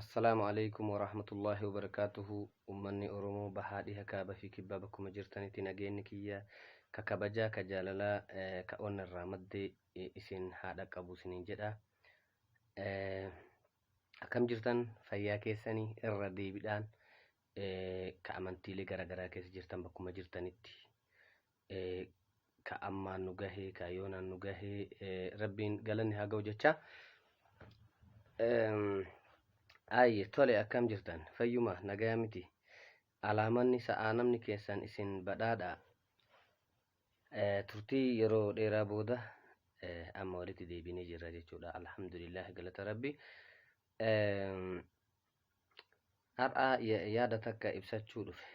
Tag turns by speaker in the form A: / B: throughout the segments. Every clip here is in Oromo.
A: Assalaamu alaikum warahmatullaahi wabarakaatuhu ummanni Oromoo bahaa dhiha kaaba fi kibbaa bakkuma jirtanitti nageenni kiyya ka kabajaa ka jaalalaa eh, ka onna irraa madde eh, isin haa dhaqqabu isiniin jedha Eh, akkam jirtan fayyaa keessanii irra deebiidhaan eh, ka amantiilee garaagaraa keessa jirtan bakkuma jirtanitti ka ammaan nu gahee ka yoonaan nu gahee rabbiin galanni haa ga'u jecha ayye tole akkam jirtan fayyuma nagaya miti alaamanni sa'aa namni keessan isin badhaadha turtii yeroo dheeraa booda amma walitti deebinee jirra jechuudha alhamdulillah galata rabbi har'a yaada takka ibsachuu dhufe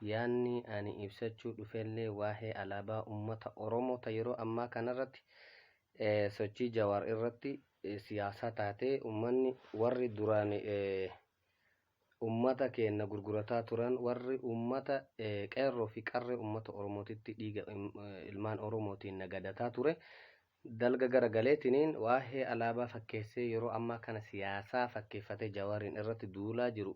A: Yaanni ani ibsachuu dhufellee waahee alaabaa ummata Oromoo ta yeroo ammaa kanarratti sochii Jawaar irratti siyaasaa taatee ummanni warri duraan ummata keenna gurgurataa turan warri ummata Qeerroo fi Qarree ummata Oromootitti dhiiga ilmaan Oromootiin nagadataa ture dalga gara galeetiniin waahee alaabaa fakkeessee yeroo ammaa kana siyaasaa fakkeeffatee Jawaariin irratti duulaa jiru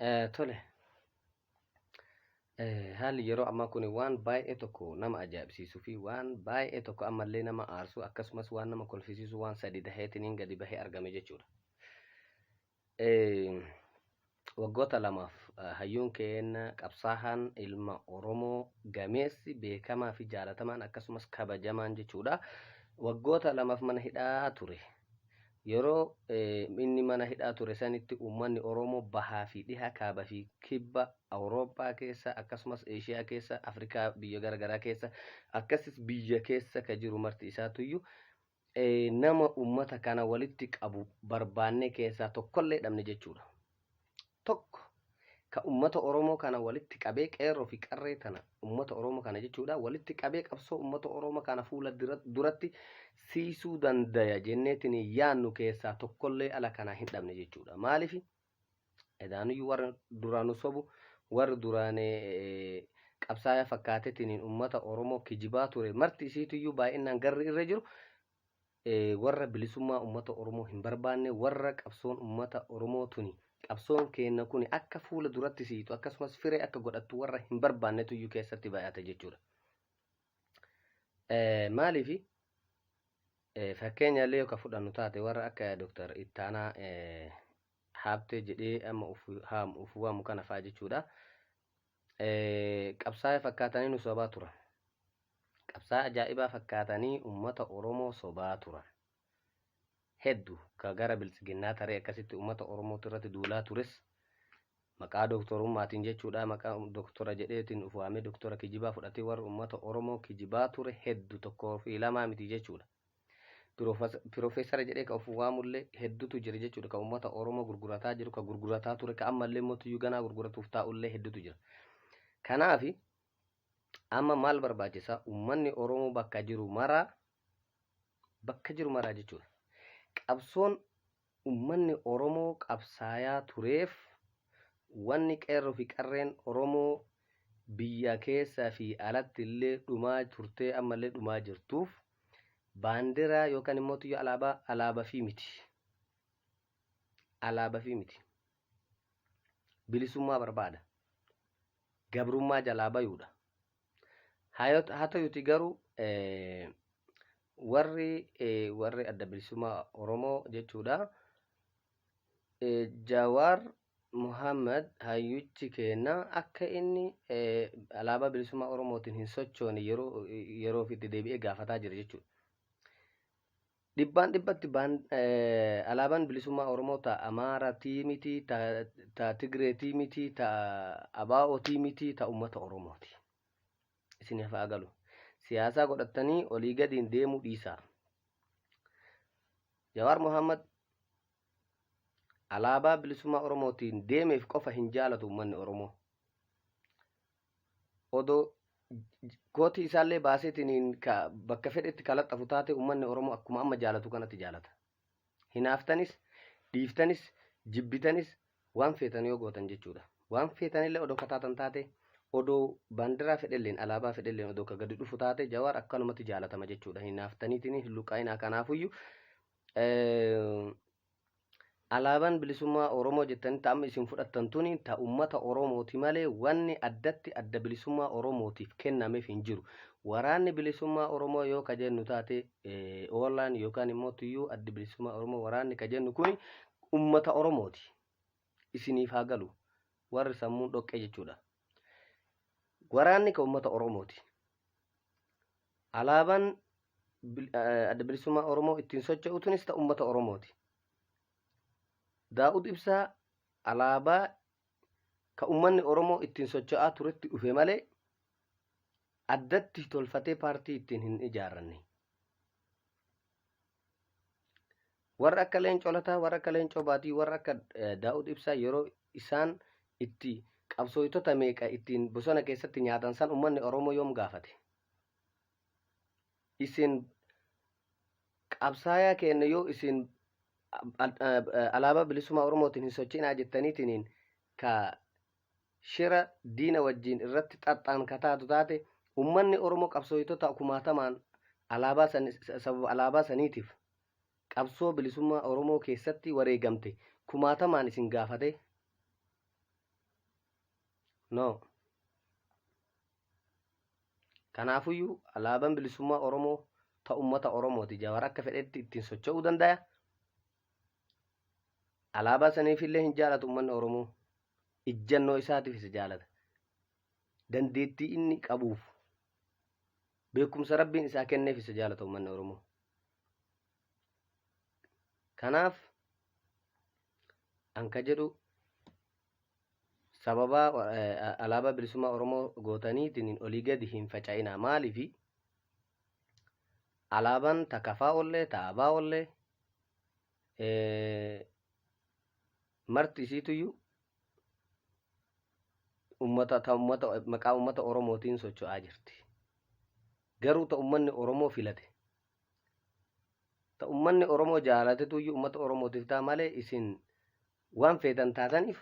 A: Eh, Tole, eh, haalli yeroo ammaa kun waan baay'ee tokko nama ajaa'ibsiisuu fi waan baay'ee tokko ammallee nama aarsu akkasumas waan nama kolfisiisu waan sadi daheetiniin gadi bahee argame jechuudha. Eh, Waggoota lamaaf eh, hayyuun keenya qabsaahaan ilma Oromoo gameessi beekamaa fi jaalatamaan akkasumas kabajamaan jechuudha. Waggoota lamaaf mana hidhaa ture. Yeroo inni mana hidhaa ture sanitti uummanni Oromoo bahaa fi dhiha, kaaba fi kibba Awurooppaa keessa akkasumas Eeshiyaa keessa, Afrikaa biyya gara garaa keessa akkasis biyya keessa ka jiru marti isaatuyyu nama uummata kana walitti qabu barbaannee keessaa tokkollee dhabne jechuudha. tokko ka ummata Oromoo kana walitti qabee qeerroo fi qarree tana ummata Oromoo kana jechuudha walitti qabee qabsoo ummata Oromoo kana fuula duratti siisuu dandaya jenneetiin yaannu keessaa tokkollee ala kanaa hin dhabne jechuudha maaliif edaanuyyuu warra duraanu sobu warri duraan qabsaa'aa fakkaateetiin ummata Oromoo kijibaa ture marti isiituyyuu baay'inaan garri irra jiru warra bilisummaa ummata Oromoo hin barbaanne, warra qabsoon ummata Oromoo tuni, qabsoon keenna kuni akka fuula duratti siixu akkasumas firee akka godhattu warra hin barbaannetu iyyuu keessatti bay'ata jechuudha. Maaliifi? Fakkeenya illee yoo ka fudhannu taate warra akka Dr. Ittaanaa Haabtee jedhee amma uf haamu uf waamu kana fa'a jechuudha. Qabsaa'ee fakkaatanii nu sobaa turan. Qabsaa ajaa'ibaa fakkaatanii uummata Oromoo sobaa turan. Heddu ka gara biltsiginnaa taree akkasitti uummata Oromootti irratti duulaa tures maqaa dooktorummaatiin jechuudha maqaa dooktora jedheetiin of waamee dooktora kijibaa fudhatee warra uummata Oromoo kijibaa ture heddu tokkoo fi lamaa miti jechuudha. Pirofes- Pirofeesara jedhee ka of waamullee hedduutu jira jechuudha. Ka uummata Oromoo gurgurataa jiru, ka gurgurataa ture, ka ammallee immoo tuyyuu ganaa gurguratuuf taa'ullee hedduutu jira. Kanaaf amma maal barbaachisa? Uummanni Oromoo bakka jiru maraa bakka jiru maraa jechuudha. Qabsoon Ummanni Oromoo qabsaayaa tureef wanni Qeerroo fi Qarreen Oromoo biyya keessa fi alatti illee dhumaa turtee amma illee dhumaa jirtuuf baandiraa yookaan immoo tuyyo alaabaa alaabafii miti. Alaabafii miti. Bilisummaa barbaada. gabrummaa jalaa bayuudha. Hatayuti garuu warri warri adda bilisummaa Oromoo jechuudha. Jawaar Muhammad hayyuchi keenna akka inni alaabaa bilisummaa Oromootiin hin sochoone yeroo yeroof itti deebi'ee gaafataa jira jechuudha. Dhibbaan dhibbatti baan, eh, alaabaan bilisummaa Oromoo ta Amaaratii miti, ta, ta Tigreetii miti, ta Abaa'otii miti, ta uummata Oromooti. Isin hafaa galu. Siyaasaa godhattanii olii gadiin deemuu dhiisaa. Jawaar Mohaammed alaabaa bilisummaa Oromootiin deemeef qofa hin jaalatu uummanni Oromoo. odoo kootii isaallee baaseetiniin ka bakka fedhetti kalaxxafu taate ummanni Oromoo akkuma amma jaalatu kanatti jaalata. Hinaaftanis, dhiiftanis, jibbitanis waan feetan yoo gootan jechuudha. Waan feetanillee odoo ka taatan taate odoo baandiraa fedhelleen alaabaa fedhelleen odoo ka gadi dhufu taate Jawaar akkanumatti jaalatama jechuudha. Hinaaftaniitiin hin luqqaa'inaa kanaafuyyu Alaaban bilisummaa Oromoo jettanii ta amma isin fudhattan tuni ta ummata Oromooti malee wanni addatti adda bilisummaa Oromootiif kennamef hin jiru. Waraanni bilisummaa Oromoo yoo ka jennu taate OLAn yookaan immoo tuyyuu addi bilisummaa Oromoo waraanni ka jennu kuni ummata Oromooti. isiniif haa galu warri sammuun dhoqqee jechuudha. Waraanni kan uummata Oromooti. Alaabaan bil- eh, adda bilisummaa Oromoo ittiin socho'utunis ta'u uummata Oromooti. Daa'ud Ibsaa alaabaa kan uummanni Oromoo ittiin socho'aa turetti dhufe malee addatti tolfatee paartii ittiin hin ijaarranne. Warra akka leencoo lataa, warra akka leencoo baatii, warra akka eh, daa'ud ibsaa yeroo isaan itti qabsooytota meeqa ittiin bosona keessatti nyaatan san ummanni Oromoo yoom gaafate? Isin qabsaayaa keenya yoo isin al- eh, alaabaa bilisummaa Oromootiin hin sochiinaa jettaniitiin ka shira diina wajjiin irratti xaxxaan ka taatu taate ummanni Oromoo qabsooytotaa kumaatamaan alaabaa san sababa alaabaa saniitiif qabsoo bilisummaa Oromoo keessatti wareegamte kumaatamaan isin gaafate no kanaafuyyuu alaaban bilisummaa Oromoo ta ummata Oromooti jawar akka fedhetti ittiin socho'uu dandaya alaabaa saniifillee hin jaalatu ummanni Oromoo ijjannoo isaatiif isa jaalata dandeettii inni qabuuf beekumsa rabbiin isaa kenneef isa jaalata uummanni oromoo kanaaf an ka jedhu sababaa eh, alaabaa bilisummaa oromoo gootaniitiin olii gadi hin faca'inaa maaliifi alaabaan takafaa ollee ta'abaa ollee eh, Marti isiituyyu ummata ta ummata maqaa ummata Oromootiin socho'aa jirti. Garuu ta ummanni Oromoo filate. Ta ummanni Oromoo jaalatetuyyu ummata Oromootiif ta'a malee isin waan feetan taataniif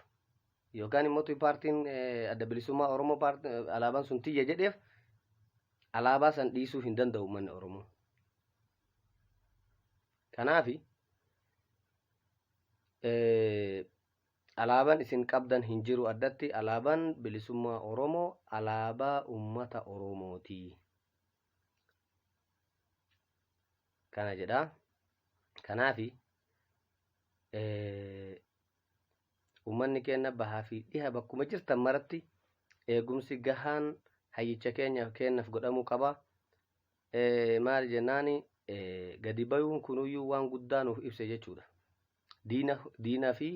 A: yookaan immoo tuyi paartiin eh, adda bilisummaa Oromoo paart- eh, alaabaan sun tiyya jedheef alaabaa san dhiisuu hin danda'u ummanni Oromoo. Kanaafi Alaaban isin qabdan hin jiru addatti alaaban bilisummaa Oromoo alaabaa ummata Oromooti. Kana jedha. Kanaafi ummanni keenya bahaa fi dhiha bakkuma jirtan maratti eegumsi gahaan hayyicha keenyaaf keenyaaf godhamuu qaba. Maali jennaan gadi bayuun kunuyyuu waan guddaa nuuf ibse jechuudha. Diina diina fi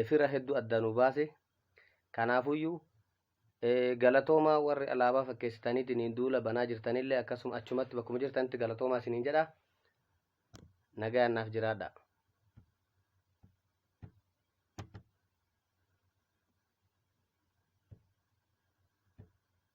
A: fira hedduu adda nu baase. Kanaafuyyuu galatoomaa warri alaabaa fakkeessitaniitiin duula banaa jirtanillee akkasuma achumatti bakkuma jirtanitti galatoomaa isiniin jedha. Nagayaan naaf jiraadha.